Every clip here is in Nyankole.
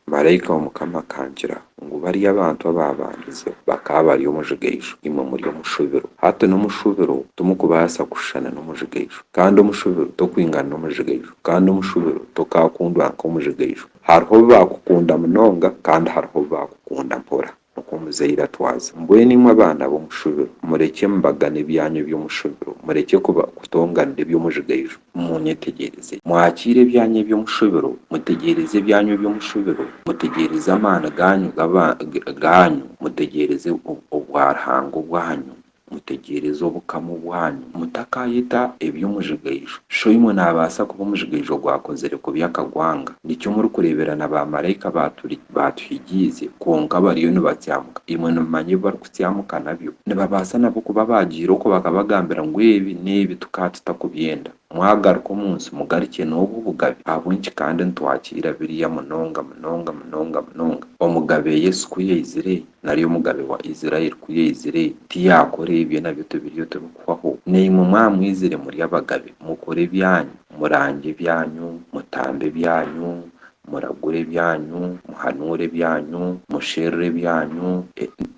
Maraika wa Mukama akangira ngu bariya abantu abaabandize bakaba bari omujigaiju, imwe muri omu shubiro. Hati n'omu shubiro timukubaasa kushushana n'omujigaiju, kandi omu shubiro tokwingana n'omujigaiju, kandi omu shubiro tokaakundwa nk'omujigaiju. Hariho obu baakukunda munonga, kandi hariho obu baakukunda mpora. Okwo omuzaire atwaze. Mbwenu imwe abaana b'omushubiro, murekye embaga n'ebyanya eby'omushubiro, murekye kuba kutonganira eby'omujigaijo. Munyetegyereze. Mwakiire ebyanya eby'omushubiro, mutegyereze ebyanya eby'omushubiro, mutegyereze amaani gaanyu g'abaanyu, mutegyereze obwa Ruhanga obw'aha nyima. Mutegyereze Obukama bwanyu. Mutakaayeta ebi omujigaijo. Shoimwe naabaasa kuba omujigaijo ogwakozire kubi akagwanga. Nikyo murikureebera na baamaraika baaturi baatuhigiize, kwonka bariyo nibatsyamuka. Imwe nimumanya ebi barikutsyamuka nabyo? Nibabaasa nabo kuba baagiire okwo bakabagambira ngu ebi n'ebi tukaba tutakubyenda. Mwagaruka omu nsi mugarukye n'obwo bugabe, ahabw'enki kandi nitwakira biriya munonga munonga munonga munonga? Omugabe Yesu ku yaizire, nari omugabe wa Israeli ku yaizire, tiyakora ebyo nabyo tibiriyo tibikuhwaho? Naimwe mwaba mwizire muri abagabe, mukore ebyanyu, murangye ebyanyu, mutambe ebyanyu, muragure ebyanyu, muhanuure ebyanyu, musherure ebyanyu,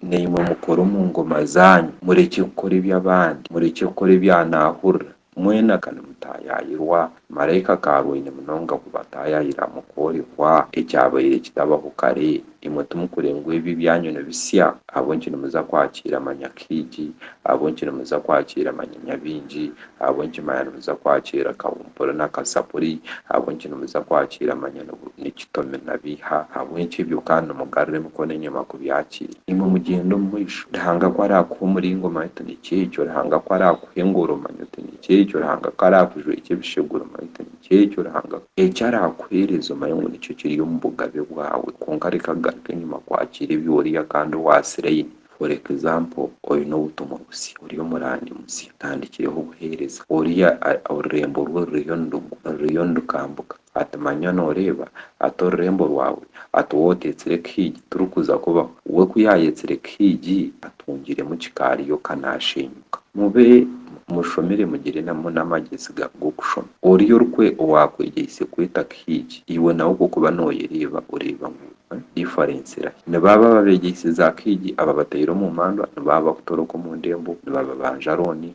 naimwe mukore omu ngoma zanyu, murekye kukora eby'abandi, murekye kukora ebya naahurira, Mwena ka nimutaayaayirwa! Maraika akaarwaine munonga kubataayaayira mu kworekwa, ekyabaire kitabaho kare. Imwe timukureeba ngu ebi ebyanyu ni bisya? Ahabw'enki nimuza kwakiira manya kaigi? Ahabw'enki nimuza kwakiira manya nyabaingi? Ahabw'enki manya nimuza kwakiira kahumpuri na kazapuri? Ahabw'enki nimuza kwakiira manya ni kitomi na biiha? Ahabw'enki ebyo ka nimugarura emikono enyima kubyakiira? Imwe mugyende omu maisho. Ruhanga ku araakuha omuringo, manya oti nikyo ekyo. Ruhanga ku araakuha. kukuhingura omanye oti nikyo ekyo Ruhanga ku araakujweekye ebisheguro omanye oti nikyo ekyo Ruhanga ku eki araakuheereza omanye ngu nikyo kiri omu bugabe bwaawe kwonka reka kugaruka enyima kwakiira ebi oriiha kandi owaasiraine for example oine obutumwa busya oriyo muraanimusya otandikireho buheereza oriya orurembo rwe ruriyo nirugwa ruriyo nirukambuka Ati, Manya nooreeba, ati orurembo rwawe, ati waaba oteetsire Kihiigi turikuza kubaho. We ku yaayetsire Kihiigi, atungiremu kikaari yoka naasheenyuka. Mube mushomire mugire n'amagyezi g'okushoma. Oriya owaakwegyeise kweta Kihiigi, iwe nawe ku okuba nooyereeba oreeba ngu diferensi erahi? Nibaaba babeegyeise za Kihiigi, ababataire omu mandwa, nibaaba bakutoroka omu ndembo, nibababanja rooni,